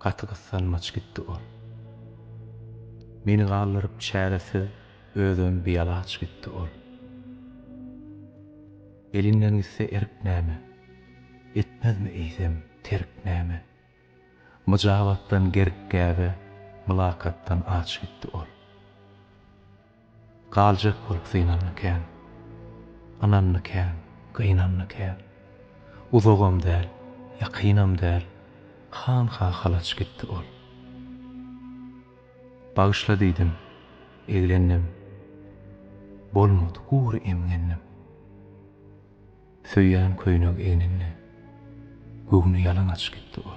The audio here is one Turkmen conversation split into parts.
Gaty gyssanmaç gitdi ol. Meni galdyryp çäresiz özem bialaç gitdi ol. Elinden gitse erik näme, Etmezmi eýsem terik näme. Myjabatdan gerk gäbe, Mylakatdan aç gitdi ol. Galjak bolup synandy kän. Ynandy kän, gynandy kän. Uzagam däl, ýakynam däl, Hanha halaç gitdi ol. Bagyşla diýdim, eglendim, Bolmady gury emgendim. Söýýän köýnek egninde, Göwni ýalaňaç gitdi ol.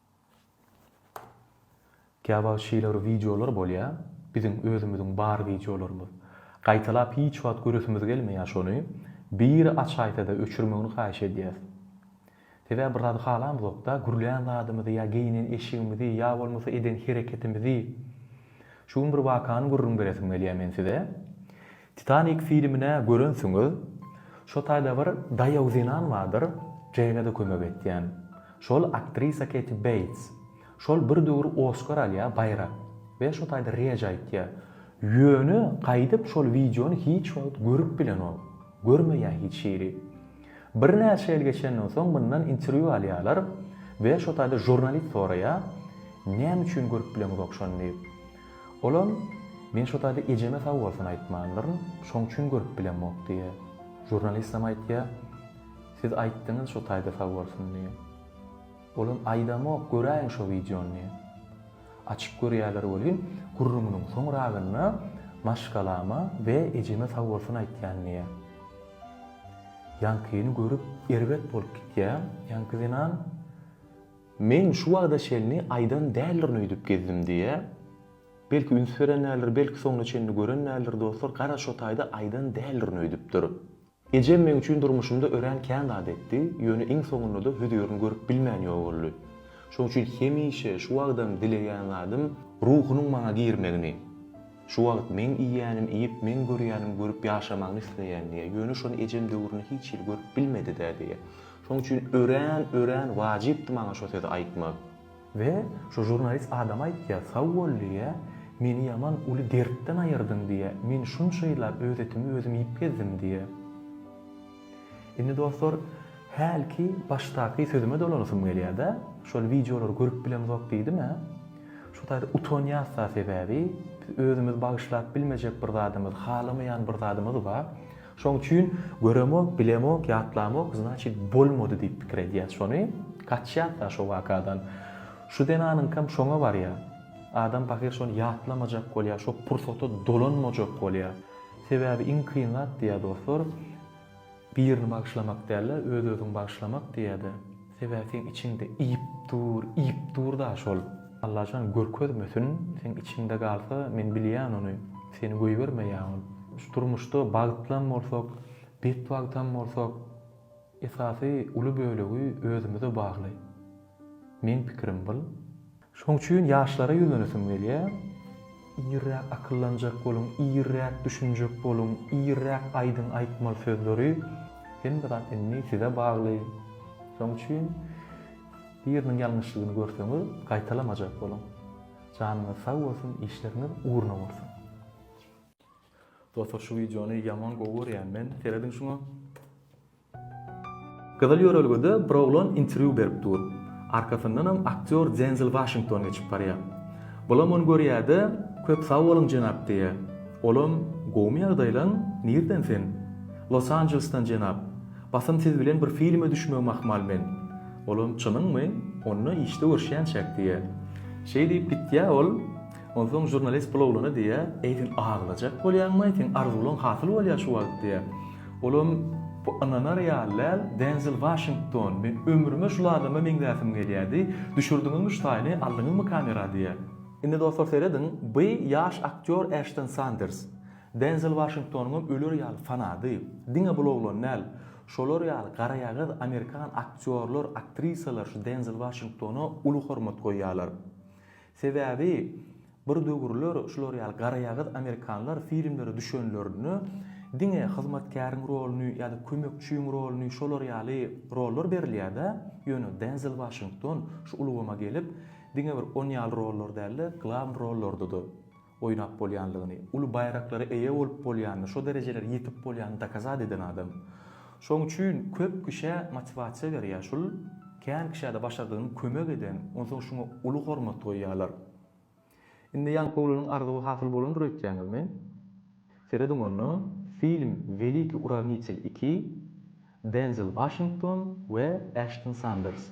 Käwagt şeýlebir wideolar bolýa biziň özümiziň bar wideolarymyz. Gaýtalap hiç wagt göresimiz gelmeýä şony biri açaýsada öçürmegini haýyş edýäs. Sebäbi biraz halamzokda gürlän zadymyzy ýa geýnen eşigimizi ýa bolmasa eden hereketimizi. Şu gün bir wakany gürrüň beresim gelýä men size. Titanik filimine görensiňiz şo taýda bir daýaw zenan bardyr Jege-de kömek etýän. Şol aktrisa Keti Beýts. Şol bir döwür Oskar alýa baýrak we şo taýda reç aýtýa. Ýöne gaýdyp şol wideony hiç wagt görüp bilenok. Görmeýä hiç hili. Bir näçe ýyl geçenden soň mundan interwýu alýalar we şo taýda žurnalist soraýa näme üçin görüp bileňzok şony diýip. Olam, Men şo taýda ejeme sag bolsun aýtmandyryn, şoň üçin görüp bilemok diýýä. Žurnalistem aýtýa, Siz aýtdyňyz şo taýda sag bolsun diýip. Olam, Aýdamok, göräýiň şo wideony diýýä. Açyp görýäler welin, gürrüňiniň soňragynda Maşgalama we ejeme sag bolsun aýtýan diýýä. Ýaňkyny görüp erbet bolup gitýä, ýaňky zenan, Men şu wagta çenli aýdan däldirin öýdüp gezdim diýýä. Belki üns beren däldir, belki soňuna çenli gören däldir dostlar, gara şo taýda aýdan däldirin öýdüpdir. Ejem meň üçin durmuşymda örän kän zat etdi, ýöne iň soňunda-da hözirini görüp bilmän ýok boldy. Şoň üçin hemişe, şu wagtam dileýän zadym, ruhunyň maňa girmegini. Şu wagt meň iýýänim iýip, meň görýänim görüp ýaşamagyny isleýän diýýä. Ýöne şony ejem döwründe hiç hili görüp bilmedi-dä diýýä. Şoň üçin örän, örän wajypdy maňa şo sözi aýtmak. We şo žurnalist adam aýtýa, sag bol diýýä, meni ýaman uly dertden aýyrdyň diýýä, men şunça ýyllap öz etimi özüm iýip gezdim diýýä. Indi dostlar, hälki başdaky sözüme dolansym gelýä-dä, şol wideolary görüp bilemzok diýdim-ä, şo taýda utanýas-da sebäbi biz özümiz bagyşlap bilmejek bir zadymyz, halamaýan bir zadymyz bar. Şoň üçin göremok, bilemok, ýatlamok, znaçit bolmady diýip pikir edýär. Şony gaçýarda şo wakadan. Şu zenanyňkam şoňa barýar. Adam pahyr şony ýatlamajak bolýar, şo pursata dolanmajak bolýar. Sebäbi iň kyn zat diýýär dostlar, birini bagyşlamak däl-de, öz-özüňi bagyşlamak diýýär-de. Sebäbi seň içiňde iýip dur, iýip dur-da şol. Allajan görkezmesin, seň içiňde galsa, men bilýän ony, seni goýbermeýär ol. Şu durmuşda bagtlam bolsak, betbagtam bolsak, esasy uly bölegi özümize bagly. Meň pikirim bul. Şoň üçin ýaşlara ýüzlenesim gelýär. Irräk akyllanjak boluň, irräk düşünjek boluň, irräk aýdyň aýtmaly sözleri. Hemme zat indi size bagly. Şoň üçin biriniň ýalňyşlygyny görseňiz, gaýtalamajak boluň. Janyňyz sag bolsun, işleriňiz ugruna bolsun. Dostlar şu wideony ýaman gowy görýän men, serediň şuňa. Gyzyl ýörelgede bir oglan interwýu berip dur. Arkasyndanam aktýor Denzel Waşington geçip barýar. Bulam ony görýär-de, Köp sag boluň jenap diýýär. Olam, Gowumy ýagdaýlaň? Nirden sen? Los-Anjelesden jenap. Basym siz bilen bir filme düşmegim ahmal men. Olam, Çynyňmy? Onda işde görüşýänçäk diýýär. Şeý diýip gitýär ol. Onsoň žurnalist pul oglana diýýär, Eý, sen aglajak bolýaňmaý, seň arzuwlaň hasyl bolýar şu wagt diýýär. Olam bu ynanar ýaly däl, Denzel Waşington, men ömrüme şul adama meňzäsim gelýärdi, düşürdiňizmi şu taýyny, aldyňyzmy kamera diýýär. Indi dostlar serediň, by ýaş aktýor Eşton Sanders. Denzel Waşingtonyňam öler ýaly fanady. Diňe bul oglan däl, şolar ýaly garaýagyz amerikan aktýorlar, aktrisalar şu Denzel Waşingtona uly hormat goýýarlar. Sebäbi, bir döwürler şular ýaly garaýagyz amerikanlar filmlere düşenlerinde diňe hyzmatkäriň roluny ýa-da kömekçiň roluny şolar ýaly rollar berilýär-de, ýöne Denzel Waşington şu ulgama gelip, diňe bir on ýaly rollar däl-de, glawny rollardydy. oýnap bolýanlygyny, uly baýraklara eýe bolup bolýanyny, şo derejelere ýetip bolýanyny dokazat eden adam. Şoň üçin köp kişä motiwasiýa berýär, şul kän kişä-de başardygyny kömek eden, onsoň şuňa uly hormat goýýarlar. Indi Ýankowylynyň arzuwy hasyl bolandyr öýtýäňizmi? Serediň onda, film Welikiý urawnitel iki, Denzel Waşington we Eşton Sanders.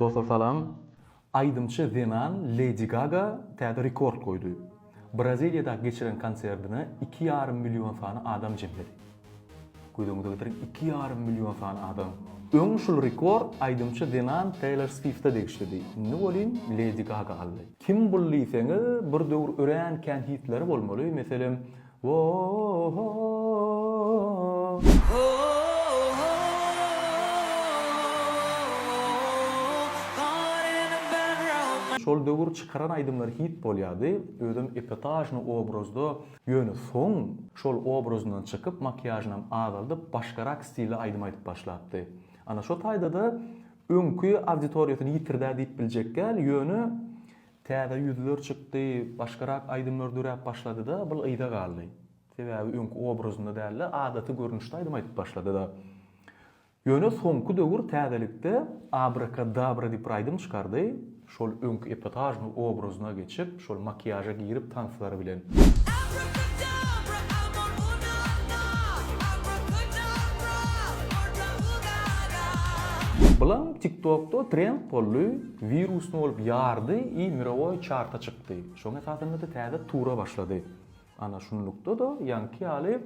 Dostlar salam! Aýdymçy zenan Ledi Gaga täze rekord goýdy. Braziliýada geçiren konserdine iki ýarym million sany adam jemledi. Göz öňüňize getiriň, iki ýarym million sany adam! Öň şul rekord aýdymçy zenan Teýlor Swifte degişlidi. Indi welin Ledi Gaga aldy. Kim bul diýseňiz, bir döwür örän kän hitleri bolmaly, meselem, Şol döwür çykaran aýdymlary hit bolýardy, özem epotažnyý obrazda, ýöne soň şol obrazyndan çykyp makiýažynam azaldyp başgarak stilde aýdym aýdyp başlapdy. Ana şo taýdada öňki auditoriýasyny ýitirdä diýip biljek däl, ýöne Täze ýüzler çykdy, başgarak aýdymlar döräp başladyda, bul yza galdy. Sebäbi öňki obrazynda dälde, adaty görnüşde aýdym aýdyp başladyda. Ýöne soňky döwür täzelikde Abrakadabra diýip bir aýdym çykardy, şol öňki epotajnyý obrazyna geçip, şol makiýaža girip tanslary bilen. Bulam TikTokda trend boldy. Wirusny bolup ýardy i mirowoý çarta çykdy. Şoň esasynda-da täze tura başlady. Ana şunlukda-da ýaňky ýaly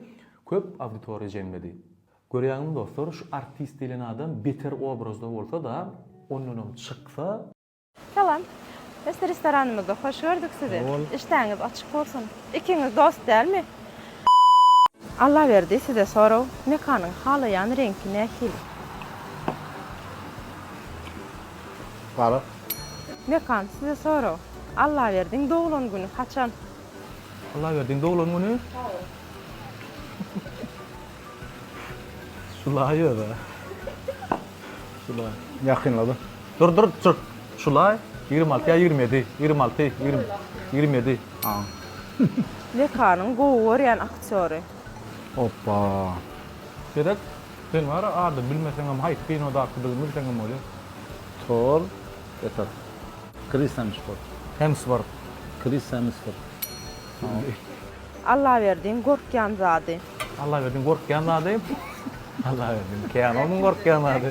köp auditoriýa jemledi. Görýäňizmi dostlar, şu artist diýlen adam beter obrazda bolsa-da, ondanam çyksa. Salam. Biz restoranymyzda hoş gördük sizi. Sag bol. Işdäňiz açyk bolsun. Ikiňiz dost dälmi? Allaberdi size sorag, mekanyň halaýan reňki nähili? Galyp. Mekan size sorag. Allaberdiň doglan güni haçan? Allaberdiň doglan güni? Şulaý özä. Şulaý. Ýakynlady. Dur dur çyk. Şulaý. Ýigrimi alty ýa ýigrimi ýedi. Ýigrimi alty. Ýigrimi ýedi. Mekanyň gowy görýän aktýory. Oppa. Gerek. Sen gara adyny bilmeseňem haýsy kinodakydygyny bilseňem bolýar. Tor, etat. Kris Hemswort. Hemswort. Kris Hemswort. Sag bol. Allaberdiň gorkýan zady. Allaberdiň gorkýan zady. Allaberdiň Keanowyň gorkýan zady.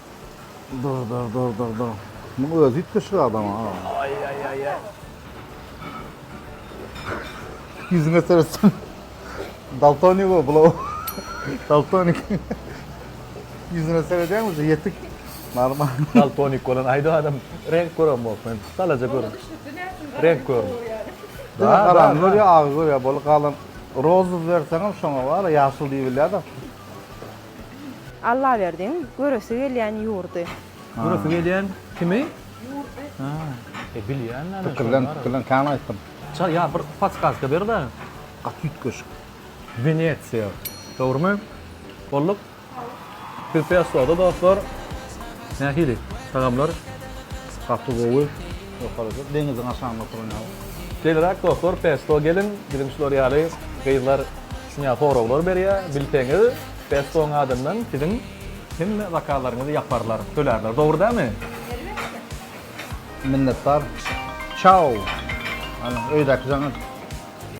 Dur, dur, dur, dur, dur. Muň özi üýtgeşik adam ha. Aý, aý, aý, aý. Ýüzüňe seretsem. Daltonik o, bula. Daltonik. Ýüzüne seredýäňmi şu ýetik? Normal. Daltonik bolan aýdo adam reňk gören bok men. Salaja gören. Reňk gören. Da, garam görýär, agy görýär, bolu galan. Rozuz berseňem şoňa bar, ýaşyl diýip bilýär-de. Allaberdiň göresi gelýän ýurdy. Göresi gelýän kimi? Ýurdy. Ha. E bilýän näme? Pikirden pikirden kän aýtdym. Çar ýa bir podskazka berde. Gaty üýtgeşik. Wenesiýa. Dogrymy? Bolduk. Biz pesoda dostlar. Nähili tagamlar? Gaty gowy. Ýokary dur, deňiziň aşagynda oturan ýaly. Geliräk dostlar Pesto geliň, biziň şular ýaly gyzlar dünýä soraglar berýär, bilseňiz Pestoň adyndan siziň hemme zakazlaryňyzy ýaparlar, tölärler, dogry dälmi? Elbetde. Minnetdar. Çau. Ana, öýdäki jaňa.